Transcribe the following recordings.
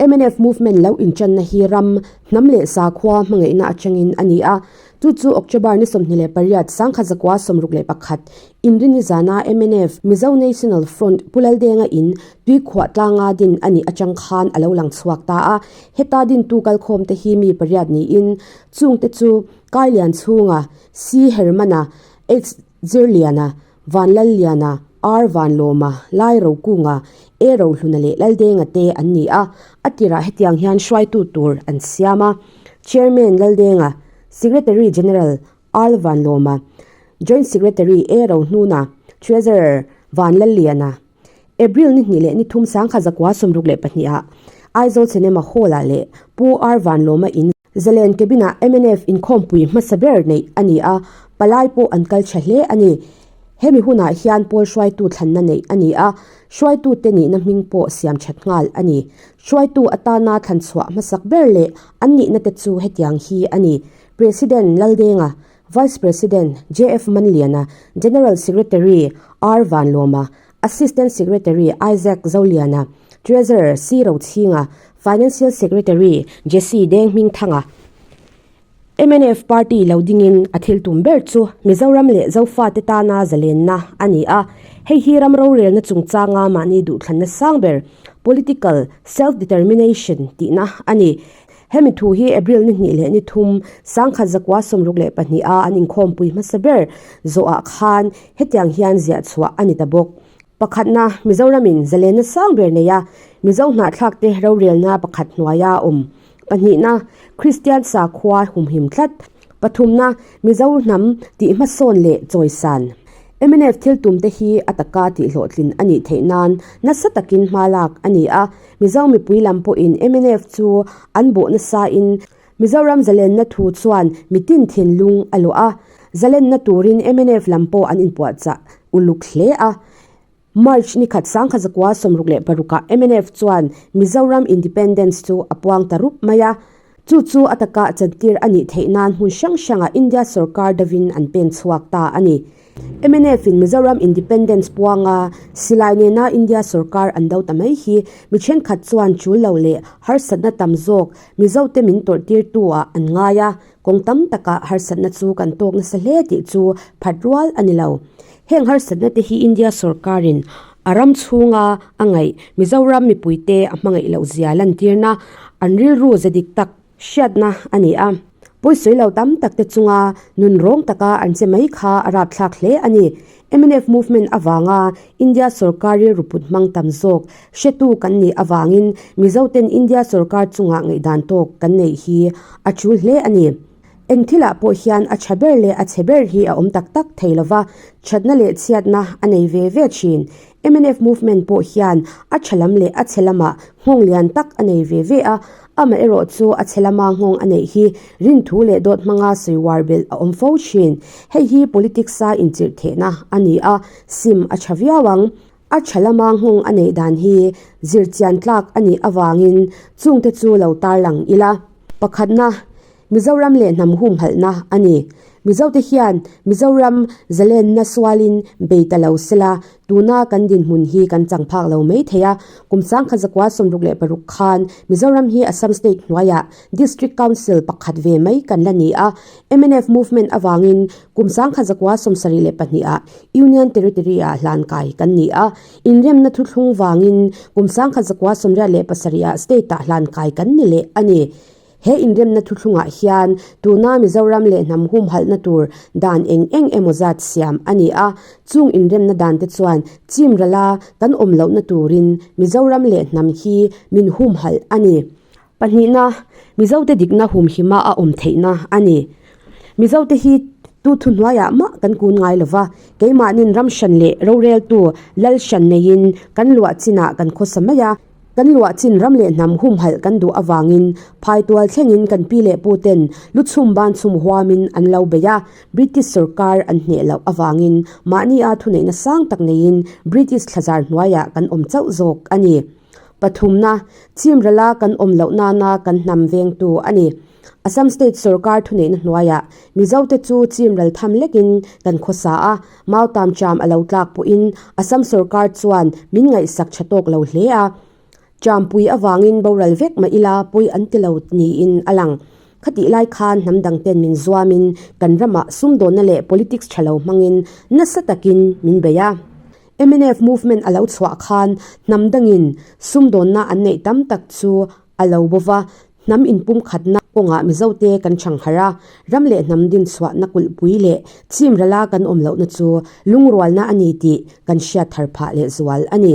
MNF movement lo inchanna hi ram hnam leh sakhua hmangaihna atangin a ni a. Chu chu October ni sawmhnih leh pariat sangkhat zakua sawmruk leh pakhat Inri ni zana MNF, Mizo National Front, Pu Laldenga in tuikhuah tlanga din a nih atang khan a lo lang chhuak ta a. Heta dintu kalkhawm te hi mi pariat niin chungte chu Kailian chhunga, Sii Hermana, Ex Zirliana, Vanlalliana, Ar Vanlawma, Lai Rokunga, E Rohluna leh Laldenga te an ni a, a tirah hetiang hian hruaitu tur an siam a, Chairman, Laldenga, Secretary General, Al Vanlawma, Joint Secretary, E Rohnuna, Treasurer, Vanlalliana, April ni hnih leh ni thum sangkha zakua sawmruk leh pahnih ah Aizawl Cinema Hall ah leh Pu Ar Vanlawma in Zalen cabin-a mnf inkhawmpui hmasa ber neih a ni a, palai pawh an kal tha hle a ni. Hemi hunah hian Pawl hruaitu thlanna neih a ni a, hruaitute nihna hming pawh siam that nghal a ni. Hruaitu atana thlanchhuah hmasak ber leh an nihnate chu hetiang hi a ni, President Laldenga, Vice President JF Manliana, General Secretary R Vanlawma, Assistant Secretary Isaac Zoliana, Treasurer Sii Ro Thinga, Financial Secretary Jessie Deng Hming Thanga, MNF Party lo dingin a thil tum ber chu Mizoram leh Zofate tana zalenna a ni a, hei hi ram rorelna chungchanga mahni duhthlanna sang ber, political self-determination, tihna a ni. Hemi thu hi April ni hnih leh ni thum sangkhat zakua sawmruk leh pahniha an inkhawmpui hmasa ber zawhah khan, Hetiang hian ziah chhuah a ni ta bawk. Pakhatna, Mizoramin zalenna sang ber neia Mizo hnahthlakte rorelna pakhat hnuaia a awm. Pahnihna, Kristian sakhua humhim tlat. Pathumna, Mizo hnam tih hmasawn leh chawisan. Mnf thiltumte hi a taka tihhlawhtlin a nih theih nan nasa takin hmalak a ni a, Mizo mipui lam pawhin mnf chu an bawh nasa in, Mizoram zalenna thu chuan mitin thinlung a luah a, zalenna turin mnf lam pawh an inpuahchah uluk hle a. March nikhat sangkhat zakua sawmruk leh parukah mnf chuan Mizoram Independence chu a puang ta rup mai a, chu chu a taka chantir a nih theih nan hmun hrang hrangah India sorkar dovin an pen chhuak ta a ni. Mnf-in Mizoram Independence puanga silai nena India sorkar an do ta mai hi mi thenkhat chuan chul lo leh harsatna tam zawk Mizote min tawrh tir tu-ah an ngai a, kawng tam taka harsatna chu kan tawk nasa hle tih chu phat rual a ni lo. Heng harsatna te hi India sorkarin a ram chhunga a ngaih Mizoram mipuite a hmangaih loh zia lantirna an rilru ze dik tak, hriatna a ni a, pawi sawi lo tam tak te chunga nun rawng taka an che mai kha a rapthlak hle a ni. Mnf movement avanga India sawrkar rilru put hmang tam zawk hretu kan nih avangin Mizoten India sawrkar chungah ngaihdan tawk kan neih hi a ṭul hle a ni. Eng thilah pawh hian a tha ber leh a chhe ber hi a awm tak tak thei lova, thatna leh chhiatna a nei ve ve thin. Mnf movement pawh hian a tha lam leh a chhe lama nghawng lian tak a nei ve ve a, amaherawh chu a chhe lama nghawng a neih hi rinthu leh dawt hmanga sawi uar belh a awm fo thin. Hei hi politics-a inchirhthehna a ni a, sim a tha viau ang. A tha lama nghawng a neih dan hi zirchian tlak a nih avangin chungte chu lo tarlang ila. Pakhatna, Mizoram leh hnam humhalhna a ni. Mizote hian Mizoram zalenna sualin bei ta lo se la, tuna kan dinhmun hi kan chang phak lo mai thei a. Kum sangkhat zakua sawmruk leh paruk khan Mizoram hi Assam state hnuaiah District Council pakhat ve mai kan la ni a. Mnf movement avangin kum sangkhat zakua sawm sarih leh pahnih ah Union Territory ah hlan kai kan ni a. Inremna thuthlung vangin kum sangkhat zakua sawmriat leh pasarih ah state ah hlan kai kan ni leh a ni. He inremna thuthlungah hian tuna Mizoram leh hnam humhalhna tur dan eng eng emaw zat siam a ni a. Chung inremna dante chuan Chimrala kan awm lohna turin Mizoram leh hnam hi min humhalh a ni. Pahnihna, Mizote dikna humhima a awm theihna a ni. Mizote hi tu thuhnuaiah mah kan kun ngai lo va, keimahnin ramhran leh roreltu Lalhran neiin kan luah chinah kan khawsa mai a. Kan luah chin ram leh hnam humhalh kan duh avangin phaitual thlengin kan pi leh pu ten luchhum ban chhum huamin an lo bei a, British sorkar an hneh loh avangin mahni a thuneihna sang tak neiin British thlazar hnuaiah kan awm chauh zawk a ni. Pathumna, Chimrala kan awm loh nana kan hnam veng tu a ni. Assam State sorkar thuneihna hnuaiah Mizote chu Chimral tham lekin kan khawsa a, Mao tam Trump a lo tlak pawhin Assam sorkar chuan min ngaihsak tha tawk lo hle a, Trump pui avangin boral vek mah ila pawi an ti lo niin a lang. Khatih lai khan hnam dang ten min zuamin kan ramah sumdawnna leh politics tha lo hmangin nasa takin min bei a. Mnf movement a lo chhuah khan hnam dangin sumdawnna an neih tam tak chu a lo bo va, hnam inpumkhatna kawngah mizote kan ṭhangharh a, ram leh hnam din chhuahna kulhpui leh chim rala kan awm lohna chu lungrualna a ni tih kan hriat thar phah leh zual a ni.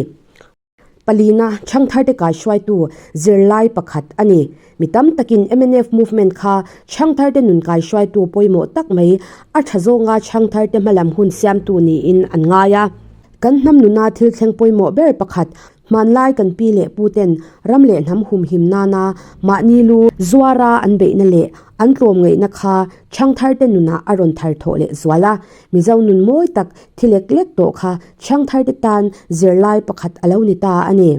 Palina ṭhangtharte kaihruaitu zirlai pakhat a ni. Mi tam takin mnf movement kha ṭhangtharte nun kaihruaitu pawimawh tak mai, a ṭha zawnga ṭhangtharte hmalam hun siamtu niin an ngai a. Kan hnam nuna thil thleng pawimawh ber pakhat Hmanlai kan pi leh pu ten ram leh hnam humhim nana mahni lu zuara an beihna leh an tlawm ngaihna kha Thiangtharte nunah a rawn thar thawh leh zual a. Mizo nun mawi tak thi lek lek tawh kha Thiangtharte tan zirlai pakhat a lo ni ta a ni.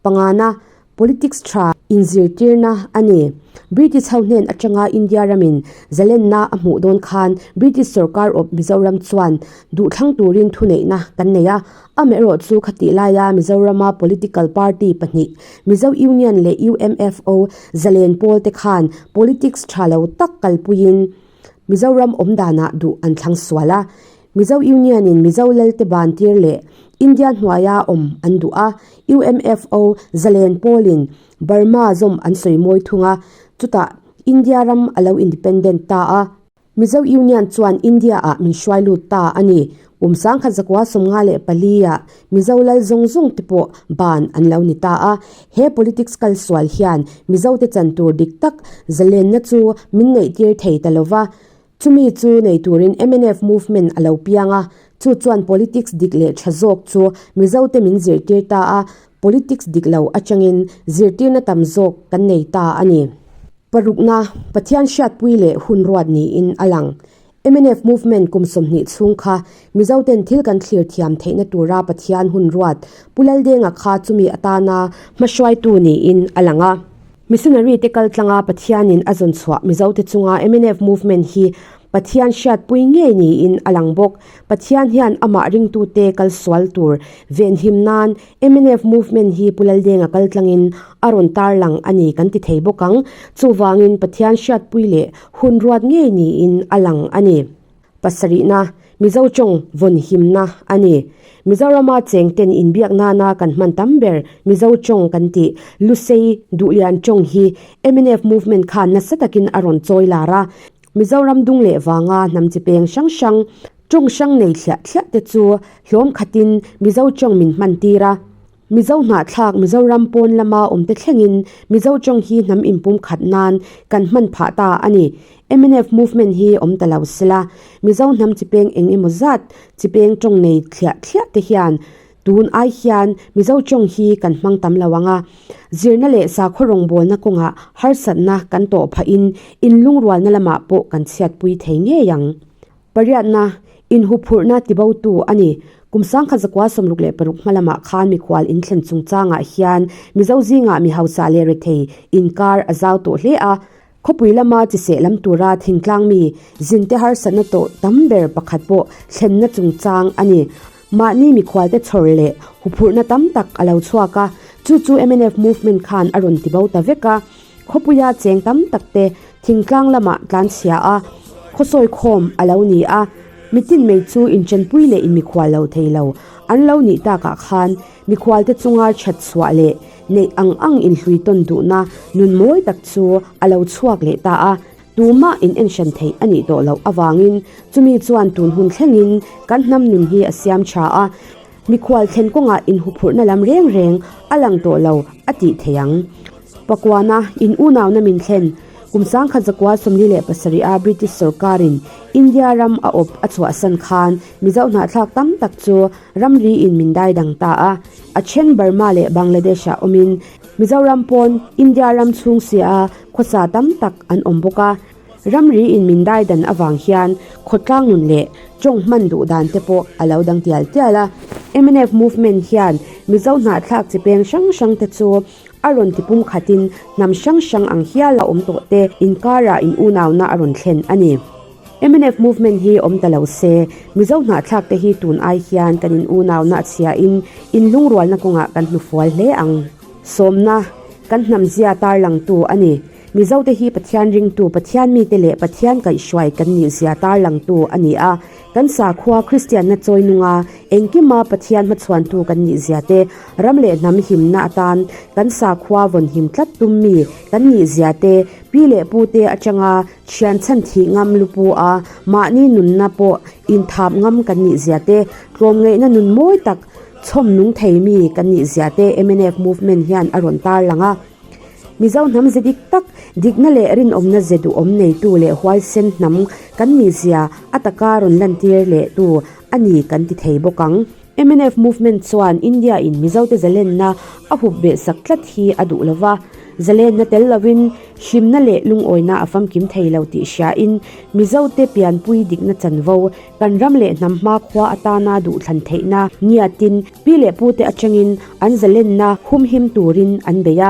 Pangana, politics tha inzirtirna a ni. British ho hnen atanga India ramin zalenna a hmuh dawn khan British sorkar awp Mizoram chuan duhthlang turin thuneihna kan nei a. A meh rawh chu khatih laia Mizorama political party pahnih, Mizo Union leh UMFO, Zalen pawl te khan politics tha lo tak kalpuiin Mizoram awmdanah duh an thlang sual a. Mizo Union in Mizo lalte bantir leh India hnuaia awm an duh a, UMFO, Zalen pawl in Burma zawm an sawi mawi thung a, chutah India ram a lo independent ta a. Mizo Union chuan India-ah min hruai lut ta a ni. Kum sangkhat zakua sawmnga leh palia Mizo lal zawng zawng te pawh ban an lo ni ta a. He politics kal sual hian Mizo te chan tur dik tak zalenna chu min neih tir thei ta lo va. Chumi chu nei turin mnf movement a lo piang a, chu chuan politics dik leh tha zawk chu Mizo te min zir tir ta a. Politics dik lo atangin zirtirna tam zawk kan nei ta a ni. Parukna, Pathian hriatpui leh hun ruat niin a lang. Mnf Movement kum sawmhnih chhung kha Mizoten thil kan thlir thiam theihna tura Pathian hun ruat, Pu Lal Denga kha chumi atana hmahruaitu niin a lang a. Missionary te kal tlanga Pathianin a zawn chhuah Mizo te chunga mnf movement hi Pathian hriatpui ngei niin a lang bawk. Pathian hian amah ringtute kal sual tur venhim nan mnf movement hi Pu Laldenga kal tlangin a rawn tarlang a ni kan ti thei bawk ang. Chuvangin Pathian hriatpui leh hun ruat ngei niin a lang a ni. Pasarihna, Mizo tawng vawn himna a ni. Mizorama chengten inbiak nana kan hman tam ber, Mizo tawng kan ti. Lusei duhlian tawng hi mnf movement khan nasa takin a rawn chawi lar a. Mizoram dung leh vanga hnam chi peng hrang hrang, tawng hrang nei thliah thliah te chu hlawm khatin Mizo tawng min hman tir a. Mizo hnahthlak, Mizoram pawn lama awmte thlengin Mizo tawng hi hnam inpum khat nan kan hman phah ta a ni. Mnf movement hi awm ta lo sela, Mizo hnam chi peng eng emaw zat chi peng tawng nei thliah thliah te hian tun ai hian Mizo tawng hi kan hmang tam lo ang a. Zirna leh sakhaw rawngbawlna kawngah harsatna kan tawh phahin inlungrualna lamah pawh kan chhiatpui thei ngei ang. Pariatna, inhuphurhna ti botu a ni. Kum sangkhat zakua sawmruk leh paruk hma lamah khan mikhual in thlen chung changah hian Mizo zingah mi hausa leh rethei inkar a zau tawh hle a. Khawpui lama chi sehlam tura thingtlangmi zinte harsatna tawh tam ber pakhat pawh thlenna chungchang a ni. Mahni mikhualte chhawr leh huphurhna tam tak a lo chhuak a, chu chu mnf movement khan a rawn ti bo ta vek a. Khawpuia cheng tam tak te thingtlang lamah tlanchhia a, khawsawi khawm a lo ni a, mitin mei chu inchenpui leh inmikhual lo thei lo an lo nih tak ah khan mikhualte chunga thatchhuah leh neih ang ang inhlui tawn duhna nun mawi tak chu a lo chhuak leh ta a. Tumah in enhran theih a nih tawh loh avangin chumi chuan tun hun thlengin kan hnam nun hi a siam tha a, mikhual thlen kawngah inhuphurhna lam reng reng a lang tawh lo a tih theih ang. Pakuana in unauna min thlen kum sangkhat zakua sawmli leh pasarih a British sorkarin India ram a awp a chhuahsan khan Mizo hnahthlak tam tak chu ramri in min dai dang ta a, a then Burma leh Bangladesh-ah awmin Mizoram pawn India ram chhung sia a Khawsa tam tak an awm bawk a, ramri in min dai dan avang hian khawtlang nun leh tawng hman duh dan te pawh a lo dang tial tial a. Mnf movement hian Mizo hnahthlak chi peng hrang hrang te chu a rawn ti pum khat in hnam hrang hrang ang hial a awm tawh te inkar ah in unau na a rawn thlen a ni. Mnf movement hi awm ta lo se Mizo hnahthlak te hi tun ai hian kan in unau na a chhia in in lungrual na kawng ah kan hnufual hle ang. Sawmna. Kan hnamzia tarlangtu a ni. Mizote hi Pathian ringtu, Pathian mite leh Pathian kaihhruai kan nih zia tarlangtu a ni a. Kan sakhua Kristianna chawi nunga engkima Pathian hmachhuantu kan nih zia te, ram leh hnam himna atan kan sakhua vawn him tlat tummi kan nih zia te, pi leh pute atanga thianchhan thih ngam lupu a mahni nunna pawh inthap ngam kan nih zia te, tlawmngeihna nun mawi tak Chhawmnung thei mi kan nih ziah te mnf movement hian a rawn tar lang a. Mizo hnam ze dik tak, dikna leh rinawmna ze duhawm nei tu leh huaisen hnam kan nih zia a taka rawn lantir leh tu a ni kan ti thei bawk ang. Mnf movement chuan India in Mizo te zalenna a hup ve sak tlat hi a duh lo va, zalenna tel lo in hlimna leh lungawina a famkim thei lo tih hria in Mizo te pianpui dikna chanvo Kan ram leh hnam hma khua atana duhthlan theihna nia tin, pi leh pute atangin an zalenna humhim turin an bei a.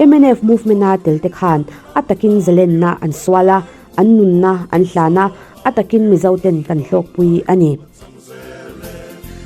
Mnf movement-a telte khan a takin zalenna an sual a, an nunna an hlan a, a takin Mizoten kan hlawkpui a ni.